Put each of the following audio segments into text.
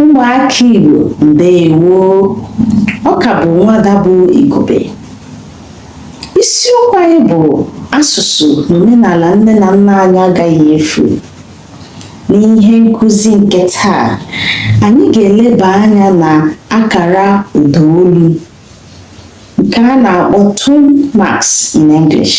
ụmụaka Igbo ndewo ọ ka bụ nwada bụ Igube isiokwu anyị bụ asụsụ na omenala nne na nna anyị agaghị efu n'ihe nkụzi nke taa anyị ga-eleba anya na akara ụdaolu nke a na-akpọ tone marks in English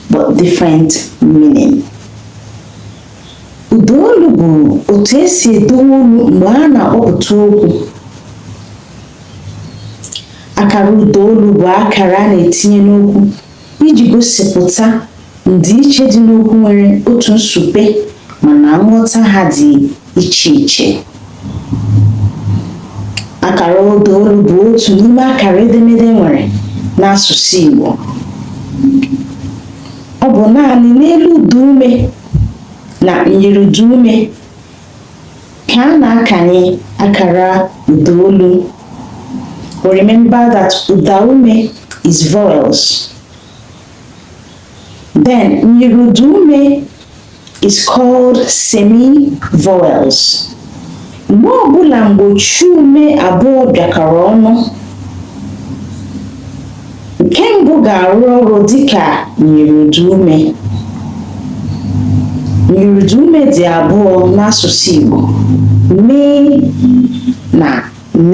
but different meaning. Ụda olu bụ otu e si edowe olu mgbe a na-akpọpụta okwu. Akara ụda olu bụ akara a na-etinye n'okwu iji gosipụta ndịiche dị n'okwu nwere otu nsupe mana nghọta ha dị iche iche akara ụda olu bụ otu n'ime akara edemede e nwere n'asụsụ Igbo ọ bụ naanị n'elu ụda ume na myiriụda ume ka a na-akanye akara ụda olu remember that ụda ume is vowels then myiriụda ume is semi-vowels. Mgbe ọbụla mgbochiume abụọ bịakọrọ ọnụ, nke mbụ ga-arụ ọrụ dịka myiriụda ume. Myiriụda ume dị abụọ n'asụsụ Igbo, m na n.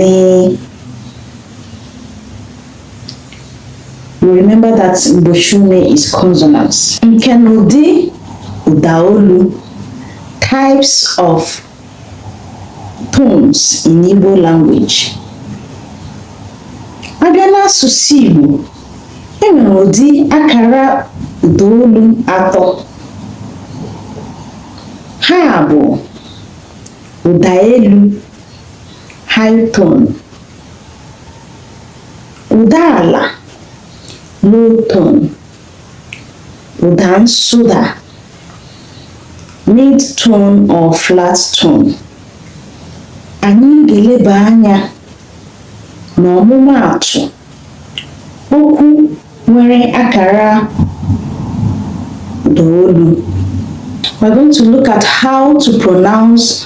Remember that mgbochiume is consonants. Nkenụdị ụdaolu, types of tones in Igbo language. A bịa n'asụsụ Igbo, e nwere ụdị akara ụdaolu atọ. Ha bụ ụda elu, high tone, ụda ala low tone ụda nsụda mid tone or flat tone anyị ga-eleba anya n'ọmụmaatụ okwu nwere akara ụda olu we're going to look at how to pronounce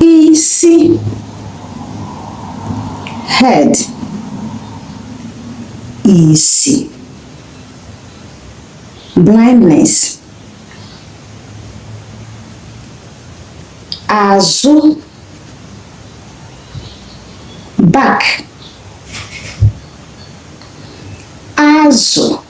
isi head isi blindness azụ back azụ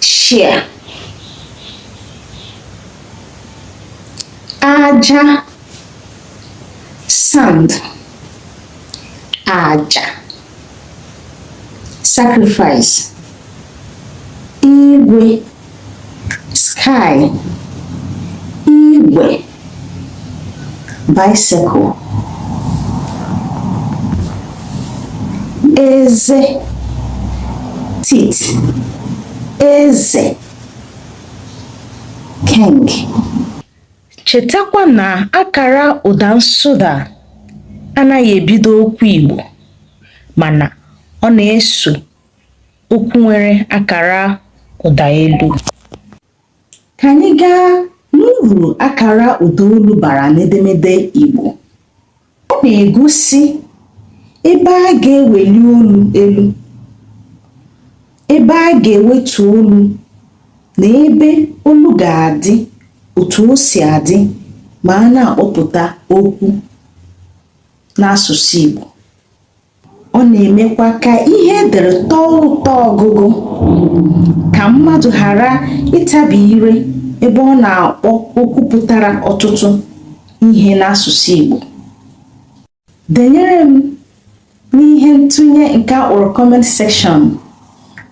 shia aja sand aja sacrifice igwe sky igwe bicycle eze teeth eze king chetakwa na akara ụda nsụda anaghị ebido okwu Igbo mana ọ na-eso okwu nwere akara ụda elu Ka anyị gaa n'uru akara ụdaolu bara n'edemede Igbo. Ọ na-egosi ebe a ga-eweli olu elu, ebe a ga-ewetu olu na ebe olu ga-adị otu o si adị ma a na-akpọpụta okwu n'asụsụ Igbo. ọ na-emekwa ka ihe e dere tọọ ụtọ ọgụgụ ka mmadụ ghara ịtabi ire ebe ọ na-akpọ okwu pụtara ọtụtụ ihe n'asụsụ Igbo denyere m n'ihe ntụnye nke a kpọrọ comment section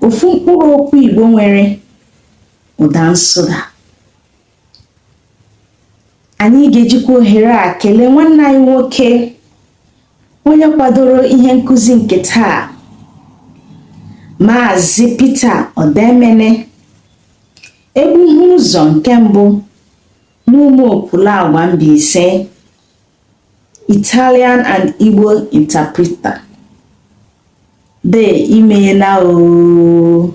ofu mkpụrụ okwu Igbo nwere ụda nsụda anyị ga-ejikwa ohere a kelee nwanne anyị nwoke onye kwadoro ihe nkụzi nke taa Maazị Peter Odemene egbuhu ụzọ nke mbụ n'Ụmụokwu Lagwa Mbaise Italian and Igbo interpreter dee i meela oo